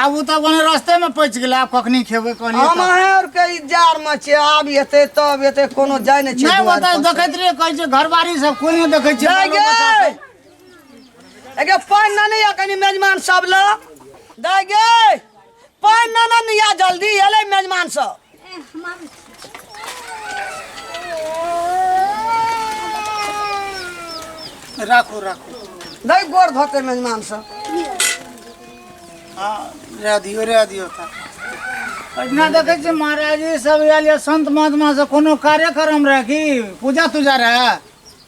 आब ओ तऽ ओने रस्ते में पच गेलै आब कखनी खेबै कहलियै हम तऽ। अहें और के इजार में छियै आब एते तब एते कोनो जाय नै छै नहि दुआर ओतऽ पर। देखैत रहियै कहै छै घरबारी सब कोन नहि देखै छियै जाय बालो बच्चा गे सब। एगे पानि न निया कनी मेजमान सब ल दाय गे पानि न न निया जल्दी एलै मेजमान सब राखू राखू नहीं गोर धोते मेजमान से हाँ रह दियो रह दियो था अहिना देखै छियै महाराज जी सब आयल यऽ संत महात्मा से कोनो कार्यक्रम रहै कि पूजा तूजा रहै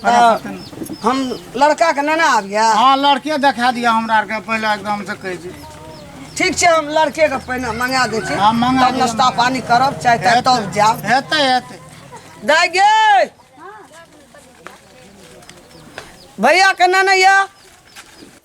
तऽ हम लड़काके नेने आबिए हँ लड़के देखा दिअ हमरा आरके पहिले एकदम से कहै छी ठीक छै हम लड़केके पहिने मंगा दै छी हँ, मंगा तब दिअ, नाश्ता मंगा। पानी करब चाय ताय तब जायब हेतै हेतै दाय गे भैया केना नहि यऽ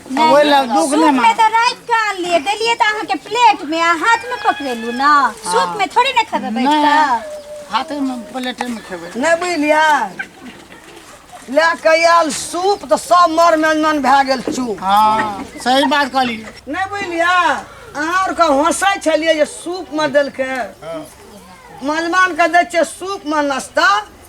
अब ओहि लए दुख नहि सूप में मान तो रात के आनलिए देलिए तो अहाँ के प्लेट में आ हाथ में पकड़ेलू ना सूप में थोड़ी ना खेबे बैठ के नहि हाथे मे प्लेटे मे खेबै नहि बुझलियै लए कऽ आयल सूप तऽ सब मर मेजमन भए गेल चूप हँ सही बात कहली नहि बुझलियै अहाँ आरके हँसै छलियै जे सूपमे देलकै मेजमानके दै छियै सूपमे नाश्ता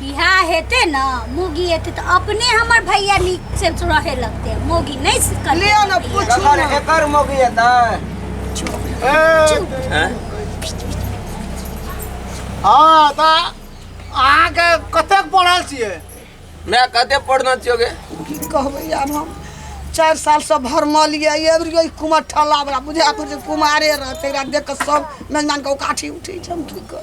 बियाह हेते ना मोगी हेते तो अपने हमर भैया नीक से रहे लगते मोगी नहीं से करते ले ना भैया। पूछ जकर एकर मोगी हेतै हैं? हाँ तो अहाँ के कतेक पढ़ल छियै मैं कते पढ़ना चाहिए की कहबै आब हम चारि साल से भरमल ये एबरियो कुमार ठल्ला बला बुझा पड़ै छै कुमारे रहतै एकरा देख कऽ सब मेजबान के उकाठी उठै छै हम की कर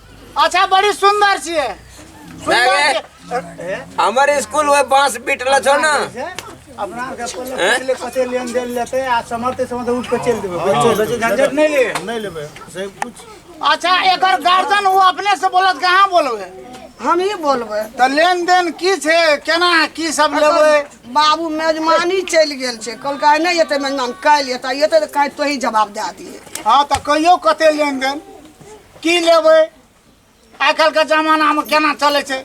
अच्छा बड़ी सुंदर छिए सुंदर छिए हमर स्कूल वे बांस बिटल छो ना अपना के पल्ले हैं? पल्ले कते लेन देन लेते आ समर्थ समर्थ उठ के चल देबे बच्चे बच्चे झंझट नहीं ले नहीं लेबे से कुछ अच्छा एकर गार्जियन वो अपने से बोलत कहाँ बोलबे हम ही बोलबे तो लेन देन की छे केना की सब लेबे बाबू मेजमानी चलि गेल छै कहलकै आइ नहि एतै मेजमान काल्हि एतै एतै तऽ काल्हि तोही जवाब दए दिहे हाँ तो कहियो कते लेन देन की लेबै आइ काल्हिके जमानामे केना चलै छै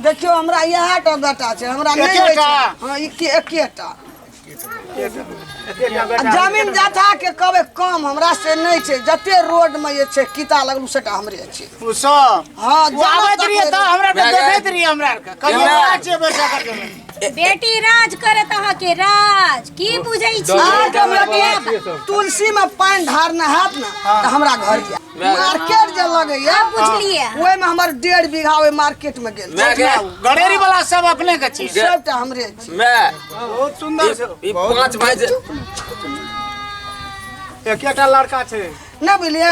देखियो हमरा इएह टा बेटा छै हमरा नहि होइ छै हँ एके एकेटा जमीन जथा के कहबै कम हमरा से नहि छै जते रोड मे जे छै किता लगलू सेटा हमरे छै ओ सब हँ आबैत रहिए तऽ हमरा देखैत रहिए हमरा आरके कहियो छै बेटा करके बेटी राज करत अहाँके राज की बुझै छी आज हम लगे तुलसी में पानी धारना हाथ ना तो हमरा घर गया मार्केट जे लगे या अब बुझलिए ओए में हमर डेढ़ बीघा ओए मार्केट में गेल मैं क्या गड़ेरी वाला सब अपने के छी सबटा हमरे छी मैं बहुत सुंदर छै ई पांच भाई जे एकेटा लड़का छै ना बुझलिए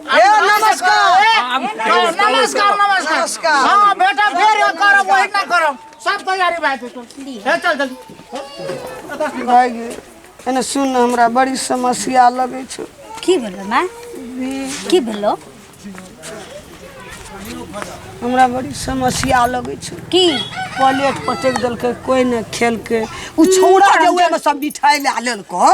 ए नमस्कार नमस्कार नमस्कार हाँ बेटा फिर यो करब वही ना करब सब तैयारी भए जेतौ हे चल जल्दी भाय गे एने सुन ने, हमरा बड़ी समस्या लगै छौ की भेलो माँ की भेलो हमरा बड़ी समस्या लगै छौ की प्लेट पटक देलकै कोई ने खेलकै उ छौड़ा जे उएहमे सब मिठाइ लए लेलको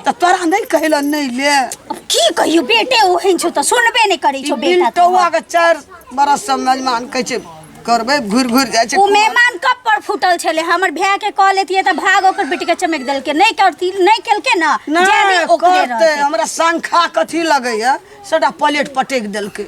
तऽ तोरा नहि कहलो नहि ले अब की कहियो बेटे ओहन छौ तऽ सुनबे नहि करै छौ बेटा तोहर। बिल्टौआ के चारि बरस से मेजमान कहै छै करबै घुरि घुरि जाइ छै ओ मेहमान कब पर फूटल छले हमर भाय के कह लेतिए तऽ भाग ओकर बेटी के चमक देलके नहि करती नहि केलके ना जे भी नहि ओकरे करतै रहतै हमरा शंखा कथी लगैया सबटा प्लेट पटकि देलकै